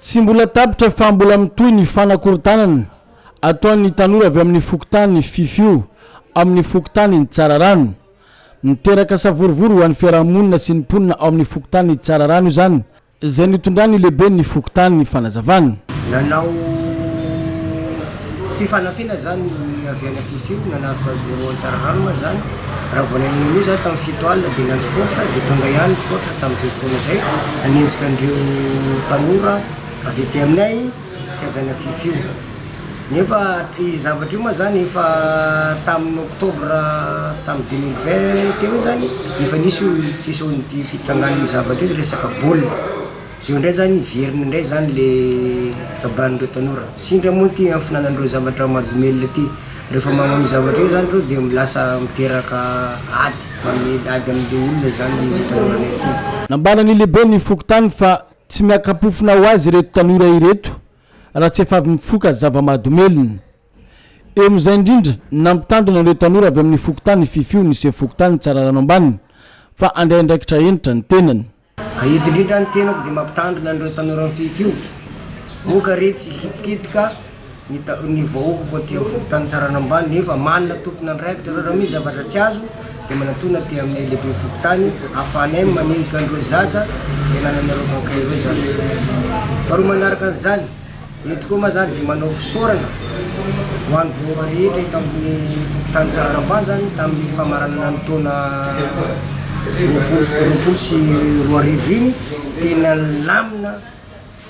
Tsy mbola tapitra fa mbola mitohy ny fanakorontanana ataon'ny tanora avy amin'ny fokontany Fifio amin'ny fokontanin'i Tsararano. Miteraka savorovoro ho an'ny fiarahamonina sy ny mponina ao amin'ny fokontanin'i Tsararano izany, izay nitondran'ny lehiben'ny fokontany fanazavana. Nanao Fifanafina izany avy any Fifi no nanavotra an'i Vero Antsararano moa izany, raha vao naheno an'io izaho tamin'ny fito alina dia niantso Force dia tonga ihany i Force tamin'izay fotoana izay hanenjika an'ireo tanora avy aty aminay sy avy any Fifi. Nefa io zavatra io moa izany efa tamin'ny octobre tamin'ny deux mille vingt teo izany efa nisy io fiseho- fitrangan'io zavatra io resaka baolina. Zao ndray zany veriny ndray zany le baban'ireo tanora, sindry moa ty hafinana an'ireo zavatra madomelina ty, rehefa manao an'io zavatra io zany reo de lasa miteraka ady, mamely ady amle olona zany le tanoranay ty. Nambara ny lehiben'ny fokontany fa tsy miaka-pofona ho azy ireto tanora ireto raha tsy efa avy mifoka zava-mahadomelina. Eo amin'izay indrindra, nampitandrina ireo tanora avy amin'ny fokontany Fifio ny sefo fokontany Tsararano Ambany fa handray andraikitra hentitra ny tenany. Ka eto indrindra ny tenako dia mampitandrina an'ireo tanora mifefy io, moa ka re tsy hikitikittika ny vahoakako aty amin'ny fokontany Tsaranambany nefa manana tompon'andraikitra ireo, raha misy zavatra tsy azo dia manatona aty aminay lehiben'ny fokontany ahafahanay manenjika an'ireo zaza fiainananareo kankay ireo izany. Faharoa manaraka an'izany. Eto koa moa izany dia manao fisaorana ho an'ny vahoaka rehetra eto amin'ny fokontany Tsararambazany tamin'ny famaranana ny taona roapolo sy roapolo sy roa arivo iny. Tena nilamina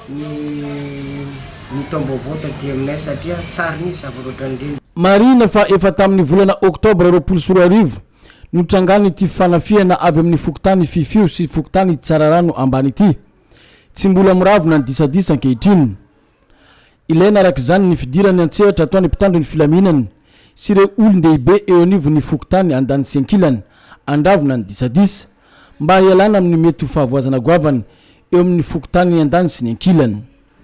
ny ny taom-baovao taty aminay satria tsary nisy zavatra ohatran'ireny. Marihina fa efa tamin'ny volana oktobra roapolo sy roa arivo no nitrangan'ity fanafihana avy amin'ny fokontany Fifio sy fokontany Tsararano ambany ity. Tsy mbola miravona ny disadisa ankehitriny. Ilaina araka izany ny fidiran'ny an-tsehatra ataon'ny mpitandro ny filaminana sy ireo olon-dehibe eo anivon'ny fokontany andaniny sy ankilany handravona ny disadisa mba hialana amin'ny mety ho fahavoazana goavana eo amin'ny fokontany andaniny sy ny ankilany.